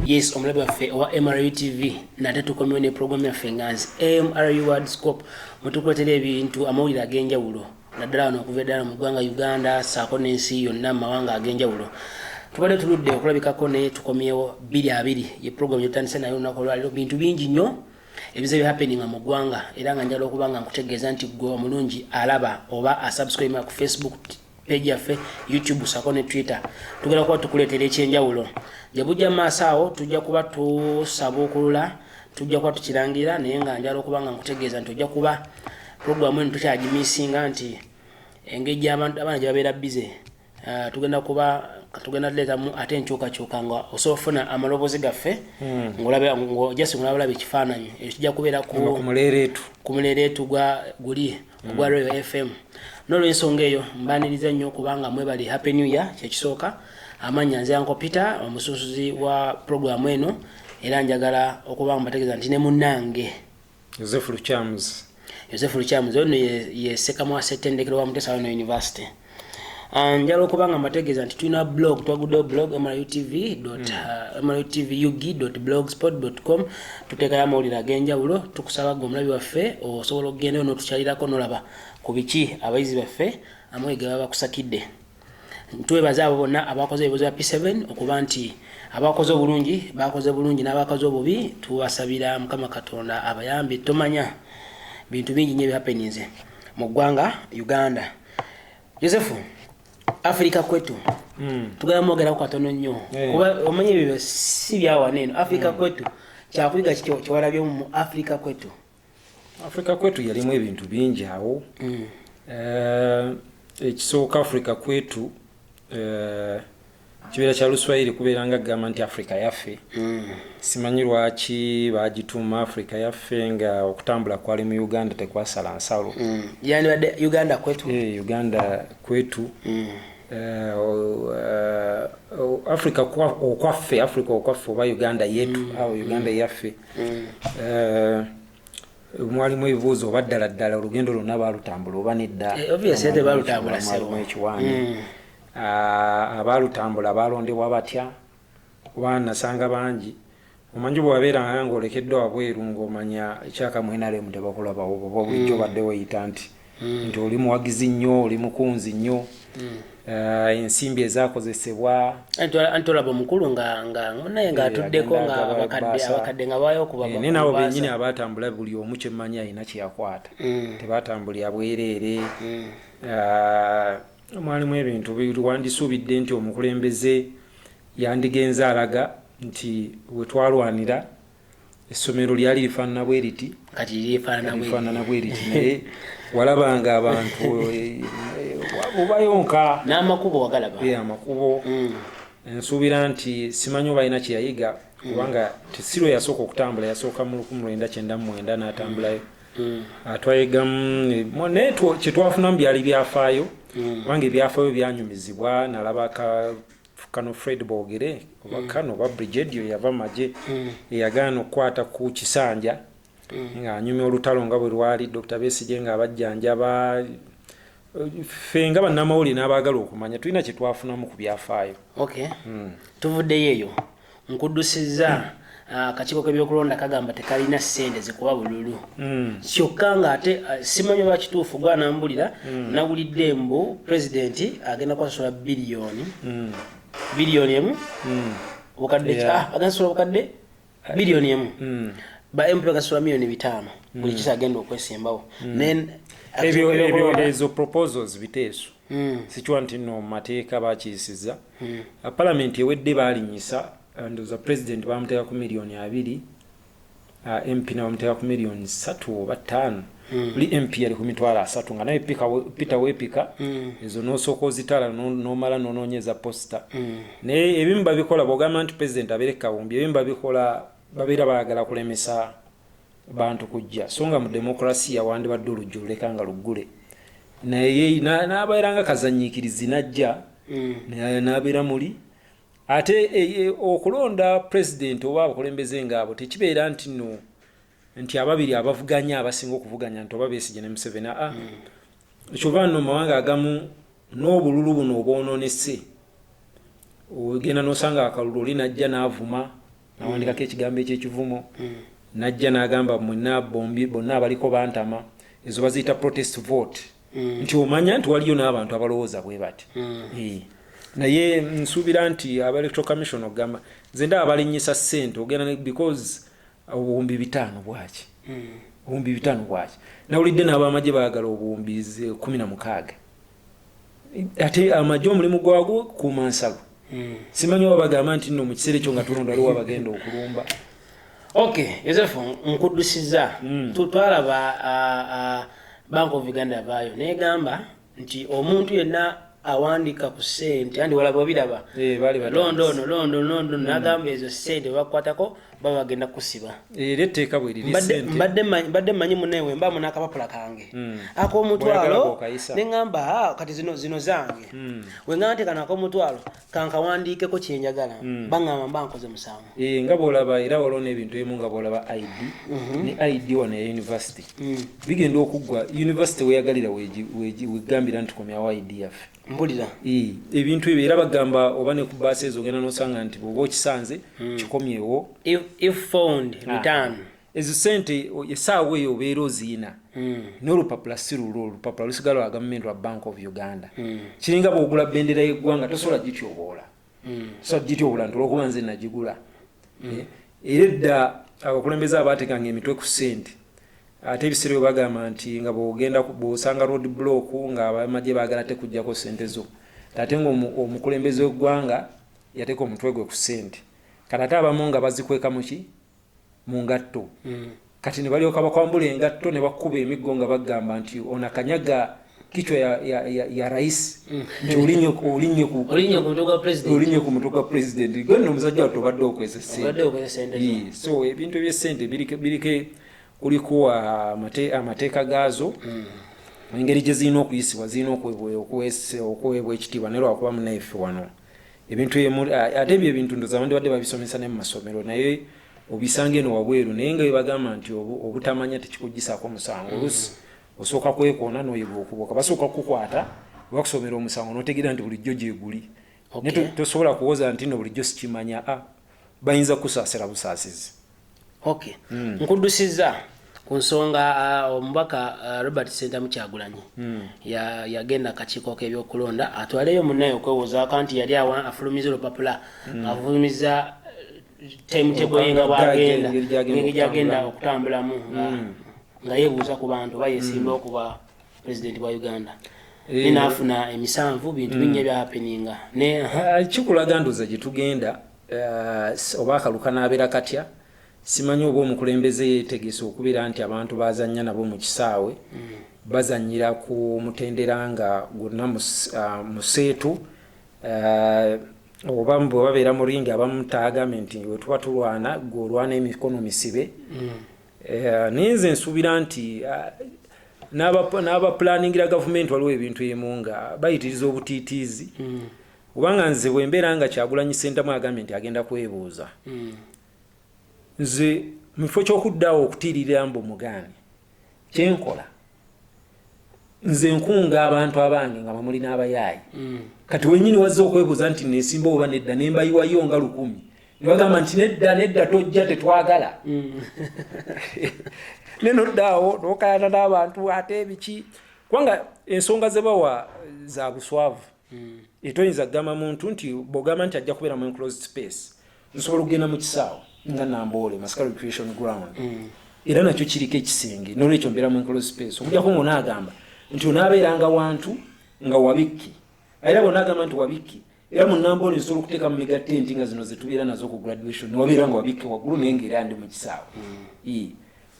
yes omulabi waffe owa mru tv nate tukomewo ne programu yaffe nga nsi mru world scope mutukuletera ebintu amawulire ag'enjawulo naddala wano okuva eddala mu ggwanga uganda saako n'ensi yonna mu mawanga ag'enjawulo tubadde tuludde okulabikako naye tukomyewo biri abiri ye programu gyetutandise naye olunaku olwaliro bintu bingi nnyo ebize bi happening mu gwanga era nga njala okuba nga nkutegeeza nti gwe omulungi alaba oba asubscribe ku facebook page yaffe youtube sako ne twitter tugenda kuba tukuleetera ekyenjawulo gye bujja mu maaso awo tujja kuba tusaba okulula tujja kuba tukirangira naye nga njala okuba nga nkutegeeza nti ojja kuba programu eno tukyagimisinga nti engeri gyabantu abaana gye babeera bize Eh, tugenda kuba tugenda tuleetamu ate enkyukakyuka nga osobola ofuna amaloboozi gaffe hmm. ngolabjasi ngolaba olaba ekifaananyi ekyo kijja kubeera ku muleereetu guli hmm. ogwa royo fm nolwensonga eyo mbaniriza nnyo kubanga mwebali happy new year kyekisooka amanya nze yanko peter omusunsuzi wa puroguramu eno era njagala okuba mbategeeza nti ne munange Yosefu Lukyamuzi. Yosefu Lukyamuzi ono ye Ssekamwa Ssettendekero wa Mutesa Wano University. Ah, njala okuba nga mbategeeza nti tulina blog twaguddewo blog mrutv mrutv hmm. uh, ug blogspot com tuteekayo amawulire ag'enjawulo tukusaba gwe omulabi waffe osobola okugenda yo notukyalirako nolaba ku biki abayizi baffe amawulire ge baba bakusakidde twebaza abo bonna abakoze ebibuzo bya P7 okuba nti abakoze obulungi bakoze bulungi n'abakoze obubi tubasabira mukama katonda abayambe tomanya bintu bingi nyo ebihappeninze mu ggwanga uganda yosefu afirika kwetu hmm. tugala mwogeraku katono nnyo eh. kuba omanya ebyo si byawana eno afirika hmm. kwetu kyakuyiga kiwalabyomu mu afirika kwetu Africa kwetu yalimu ebintu bingi awo mm. eh, ekisooka Africa kwetu eh, kibeera kya luswayiri kubeera nga gamba nti africa yaffe mm. simanyi lwaki bagituuma africa yaffe nga okutambula kwali mu uganda tekwasala nsalo mm. yandibadde uganda kwetu eh, uganda kwetu Eh, eh, africa okwaffe africa okwaffe oba uganda yetu mm. awo uganda mm. yaffe mm. eh, mwalimu ebibuuzo oba ddala ddala olugendo lwonna balutambula oba nedda eh, ekiwaani mm. ah, abaalutambula baalondebwa batya kuba nasanga bangi omanyi bwabeera nga olekeddwa wabweru ngaomanya ekyakamwenaremu tebakulabawo oba bulijjo mm. badde weyita nti mm. nti oli muwagizi nnyo oli mukunzi nnyo mm. uh, ensimbi ezakozesebwa anti olaba omukulu naye ngaatuddeko eh, ngaabakadde nga bayo okubae eh, nabo benyini abatambula buli omu kyemmanyi alina kyeyakwata mm. tebatambulira bwereere uh, mwalimu ebintu wandisuubidde nti omukulembeze yandigenze alaga nti wetwalwanira essomero lyali lifaanana bwe liti kati lifaanana bwe liti naye walabanga abantu eh, eh, obayonka n'amakubo wagalaba eh, amakubo mm. nsuubira nti simanyi obalina kye yayiga mm. kubanga tesiro yasooka okutambula yasooka mu lukumi lwenda kyenda mu mwenda n'atambulayo mm. atwayegamu ah, naye kye twafunamu byali byafaayo kubanga ebyafaayo byanyumizibwa nalaba ka kano fred bogere oba mm. kano oba brigedio yava maje mm. eyagaana okukwata ku kisanja mm. ng'anyumya olutalo nga bwe lwali dr besige ng'abajjanjaba ffe nga bannamawulire n'abaagala okumanya tulina kye twafunamu ku byafaayo tuvuddeyo eyo nkuddusizza akakiiko k'ebyokulonda kagamba tekalina ssente zikuba bululu hmm. kyokka ng'ate uh, simanyi oba kituufu gwanambulira hmm. nawulidde mbu pulezidenti agenda kwasasula biliyoni hmm. biliyoni emu bukadde ah, agenda sasula bukadde biliyoni emu ba mp bagasasula miliyoni bitaano buli kisa agenda okwesimbawo ebyo ezo proposals biteeso hmm. sikiwa nti no mateeka bakiyisiza hmm. ah, palamenti ewedde balinyisa ah, ndoza president bamuteeka ku miliyoni abiri ah, mp nabamuteeka ku miliyoni satu oba ttaano hmm. buli mp yali ku mitwalo asatu nga naye peter wepika ezo nosooka ozitala nomala nononyeza posita naye ebimu babikola bwogamba nti president abere kawumbi ebimu babikola babeera bagala kulemesa bantu kujja so nga mu demokrasiya wandibadde olujjululeka nga luggule naye n'abeera nga kazanyiikirizi najja mm. n'abeera muli ate e, e, okulonda pulezidenti oba abakulembeze ngaabo tekibeera nti no nti ababiri abavuganya abasinga okuvuganya nti oba besigye ne museveni aa mm. kyova no mawanga agamu n'obululu buno obwononese ogenda nosanga akalulu oli najja n'avuma nawandikako ekigambo ekyekivumo mm. najja nagamba mwena bombi bonna abaliko bantama ezo baziyita protest vote mm. nti omanya nti waliyo n'abantu abalowooza bwe bati mm. eh. naye nsuubira nti aba electro commission okugamba nze ndaba balinyisa sente ogenda because obuwumbi bitaano bwaki obuwumbi bitaano bwaki nawulidde n'abamagye baagala obuwumbi kumi na mukaaga ate amagye omulimu gwagwo kuuma nsalo hmm. simanyi oba bagamba nti no mu kiseera ekyo nga tulonda aliwo abagenda okulumba ok yosefu nkuddusiza hmm. twalaba bank of uganda vaayo negamba nti omuntu yenna awandika ku sente andi walaba obiraba eh, londa ono londa londa hmm. nagamba ezo sente bakukwatako baba bagenda kusiba era etteeka bwe liri mbadde manyi munaye we mbaamu n'akapapula kange hmm. ak'omutwalo ne ŋŋamba ah, kati zino zino zange hmm. we ŋŋamba nti kano ak'omutwalo kankawandiikeko kye njagala hmm. baŋŋamba mba nkoze musango eh, nga bw'olaba era waliwo n'ebintu ebimu nga bw'olaba id mhm. ne id wano ya yunivasite bigenda okuggwa yunivasite weyagalira wegambira nti komyawo id yaffe mbulira ebintu ebyo era bagamba oba ne ku baasi ezo ogenda nosanga nti bwoba okisanze hmm. kikomyewo ah. ezo sente esaawa eyo obeera oziina hmm. n'olupapula si lulwo olupapula lusigala wa gavumenti lwa bank of uganda hmm. kiringa bwogula bendera y'eggwanga tosobola gityoboola mm. sajjiti obulantu olwokuba nze nagigula mm. eh, era edda abakulembeze abaatekanga emitwe ku sente ate ebiseera bwe bagamba nti nga bwogenda bwosanga road block nga abamagye baagala te kujjako sente zo ate nga omukulembeze w'eggwanga yateeka omutwe gwe ku sente kati ate abamu nga bazikweka muki mu ngatto mm. kati ne balyoka bakwambula engatto ne bakuba emiggo nga bagamba nti ono akanyaga kichwa ya, ya, ya, ya rais mm. nti olinye olinye ku olinye ku mutwe gwa president olinye ku mutwe gwa president gonna omusajja wattu obadde okozesa sente obadde okozesa sente yeah. so ebintu eby'essente birike birike kuliko ah, amate, amateeka gaazo mm. engeri gye zirina okuyisibwa zirina okuweebwa okuweebwa ekitiibwa naye lwakuba munaife wano ebintu ate ebyo ebintu ndoza bandibadde babisomesa ne mu masomero naye obisanga eno wabweru naye nga webagamba nti obutamanya tekikugisaako musango mm. olusi osooka kwekoona noyiga okuboka basooka kukukwata bakusomera omusango notegeera nti bulijjo gyeguli tosobola kuwoza nti no bulijjo sikimanya a ah, bayinza kusaasira busaasizi ok mm. nkudusiza ku nsonga uh, omubaka uh, robert sentamu kyagulanyi mm. yagenda ya akakiiko k'ebyokulonda atwaleyo munaye okwewozaako nti yali awa afulumiza olupapula mm. afulumiza uh, timetable ye nga bwagenda ngeri gyagenda okutambulamu nga hmm. yebuuza ku bantu oba yesimba hmm. okuba president wa uganda eh. ninafuna emisanvu bintu mm. binye byapeninga ne ah, kikulaga ndoza gyetugenda eh, oba akaluka nabeera katya simanyi oba omukulembeze yetegese okubeera nti abantu bazanya nabo mu kisaawe mm. bazanyira ku mutendera nga gwonna ah, museetu eh, oba bwe babeera mu ringi abamu taagambye nti wetuba tulwana gwe olwana emikono misibe mm. Eh, naye nze nsuubira nti ah, n'abapulaningira gavumenti waliwo ebintu emu nga bayitiriza obutiitiizi hmm. kubanga nze bwembeera nga kyagulanyi sentamu agambye nti agenda kwebuuza hmm. nze mu kifo ky'okuddawo okutiiririra mbu mugaani kyenkola nze nkunga abantu abange nga bamuli n'abayaayi mm. kati wenyini wazze okwebuuza nti nesimba oba nedda nembayiwayo nga lukumi nebagamba nti nedda nedda tojja tetwagala mm. nenoddaawo nokayana n'abantu ate ebiki kubanga ensonga zebawa za buswavu mm. etoyinza kugamba muntu nti bwogamba nti ajja kubeera mu enclosed space nsobola okugenda mu kisaawo nga namboole masika recreation ground mm. era nakyo kiriko ekisenge nolwekyo mbeera mu enclosed space okujjako ngona agamba nti onaabeeranga wantu nga wabikki era bona agamba nti wabikki era mu namboole nsobola okuteeka mu migatte nti nga zino zetubeera nazo ku graduation newabeera nga wabikki waggulu naye nga era ndi mu kisaawo mm.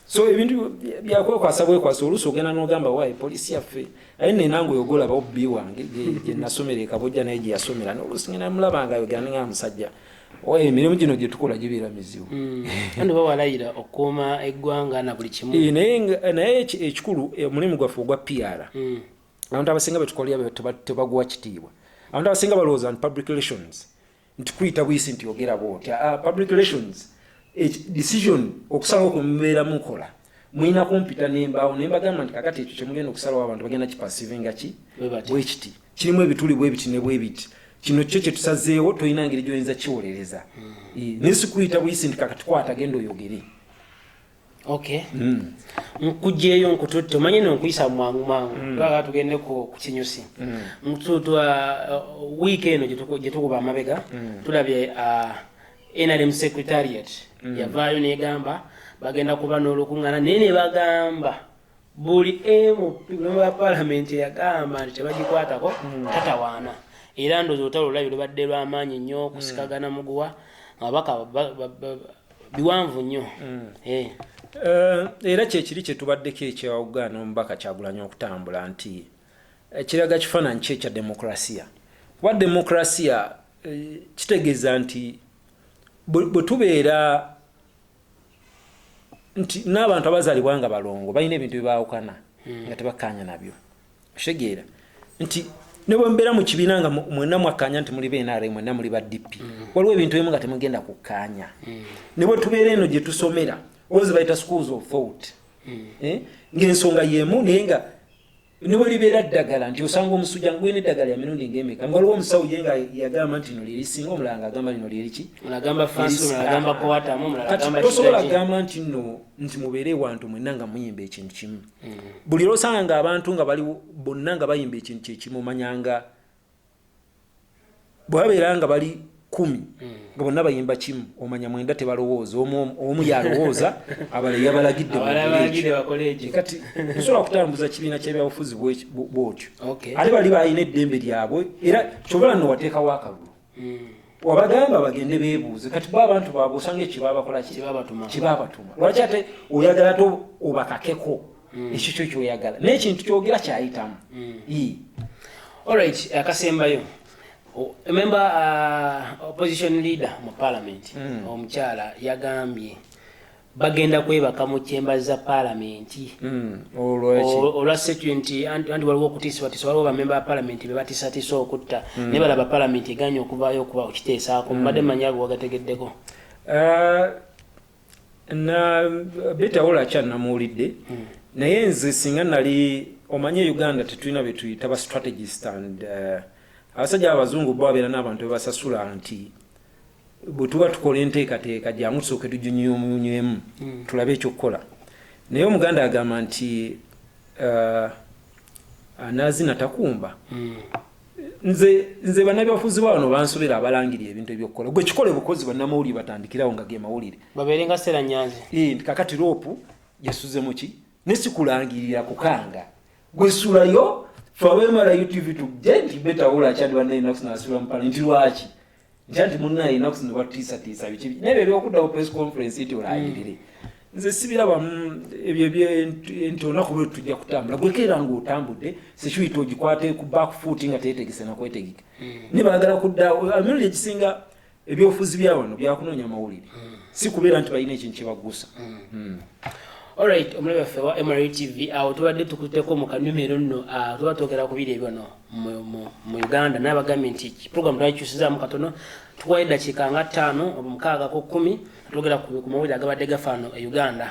so ebintu byakwekwasa bwekwasa oluusi ogenda nogamba wayi polisi yaffe aye nenange oyogolaba obbi wange gyenasomera ekabojja naye gyeyasomera noluusi ngenda mulaba nga yogera nga musajja oye emirimu gino gyetukola gibeera mizibu hmm. kandi oba walayira okukuuma eggwanga na buli kimu eh, naye ekikulu eh, omulimu gwaffe ogwa pr hmm. abantu abasinga betukolera tebaguwa kitiibwa abantu abasinga balowooza nti public relations nti kuyita buyisi nti ogera bwoti ah, ah, public relations eh, decision okusalawo kwemubeera mukola mulina kumpita nembaawo naye mbagamba nti kakati ekyo kyemugenda okusalawo abantu bagenda kipasivinga ki bwekiti kirimu ebituli bwebiti ne bwebiti kino kyo kyetusazeewo tolina ngeri gyoyinza kiwolereza hmm. eh, naye sikuyita buyisi nti kakati kwata genda oyogere okay mm. nkujeyo nkututte omanyi no nkuyisa mwangu mwangu mm. twala tugende ku kukinyusi mm. mtutwa uh, week eno jetukuba amabega mm. tulabye uh, nrm secretariat mm. yavaayo negamba bagenda kuba n'olukuŋŋana naye ne bagamba buli emu memu ya palamenti eyagamba nti tebagikwatako hmm. tatawaana era ndozi olutalo lulabi lubadde lwamaanyi nnyo hmm. kusikagana muguwa ababaka biwanvu nnyo hmm. eh. Eh, era kyekiri kyetubaddeko ekyawugana omubaka kyagulanya okutambula nti eh, kiraga kifaananyi ki ekya demokrasiya kuba demokrasiya kitegeeza nti bwe tubeera nti n'abantu abazalibwa nga balongo balina ebintu byebaawukana hmm. nga tebakkaanya nabyo okitegeera nti ne bwe mubeera mu kibiina nga mwena mwakkaanya nti muli benara mwena muli ba dp hmm. waliwo ebintu ebimu nga temugenda kukkaanya hmm. ne bwe tubeera eno gye tusomera ozi bayita schools of thought eh? ng'ensonga y'emu naye nga ne bwe libeera ddagala nti osanga omusujja ngulina eddagala lya mirundi ng'emeka nga waliwo omusawo ye nga yagamba nti lino lyerisinga omulala ng'agamba lino lyeriki tosobola kugamba nti no nti mubeere ewantu mwenna nga muyimba ekintu kimu mm. buli lwosanga ng'abantu nga bali bonna nga bayimba ekintu kyekimu omanyanga bwabeera nga bali kumi nga bonna bayimba kimu omanya mwenda tebalowooza omu yalowooza abala yabalagidde kati nsobola kutambuza kibiina kyebyabufuzi bwotyo ate bali balina eddembe lyabwe era kyobola no wateekawo akalulu hmm. wabagamba bagende bebuuze kati bo abantu babwe osanga ekyo babakola kibabatuma lwaki ate oyagala te obakakeko mm. ekyo kyo kyoyagala naye ekintu kyogera kyayitamu mm. olrit akasembayo memba uh, opposition leader mu parliament mm. omukyala yagambye bagenda kwebaka mu chemba za palamenti hmm, olwa security anti waliwo okutiisibatiisa waliwo bamemba ba palamenti be batisatiisa okutta hmm. naye balaba palamenti eganye okuvaayo okuba okiteesaako hmm. mbadde manyi ago wagategeddeko eh, na beta ola cha na muulide mm. na yenze singa nali omanye Uganda tetulina betuyita ba strategist and uh, abasaja abazungu bo abera nabantu basasula anti butuba tukola enteka teka ja musoke tujunyo munyemu mm. tulabe ekyo kola naye omuganda agamba nti uh, anazina takumba mm. nze nze banabyabufuzi ba wano bansobera abalangiri ebintu ebyokukola gwe kikole bukozi banamawulire batandikirawo nga ge mawulire babeere nga sera nyanzi nti kakati loopu yasuze muki ne sikulangirira kukanga gwe sulayo fabemala utv tugje nti betawola akyadi bannaye nakusinasula mupale nti lwaki ntya nti munnaye enaku zino batutiisatiisa biki naye bye byokuddawo press conference nti olaayirire nze sibiraba ebyo nti olunaku lwe tujja kutambula gwekeera nga otambudde security ogikwate ku back foot nga teetegese nakwetegeka hmm. naye baagala kudda emirundi egisinga ebyofuzi bya wano byakunoonya mawulire hmm. si kubeera nti balina ekintu kyebaggusa hmm. olright omulabi waffe wa mrtv awo tubadde tukuteko mu kanyumiro nno ah, tuba twogera kubiri ebyo no mu uganda nabagambye nti program twakikyusizaamu katono tukuwa eddakiika nga ttaano oba mukaaga ku kkumi twogera ku mawulire agabadde gafaano e uganda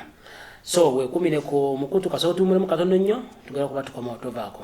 so wekumire ku mukutu kasooka tuwumulemu katono nnyo tugera kuba tukoma otovaako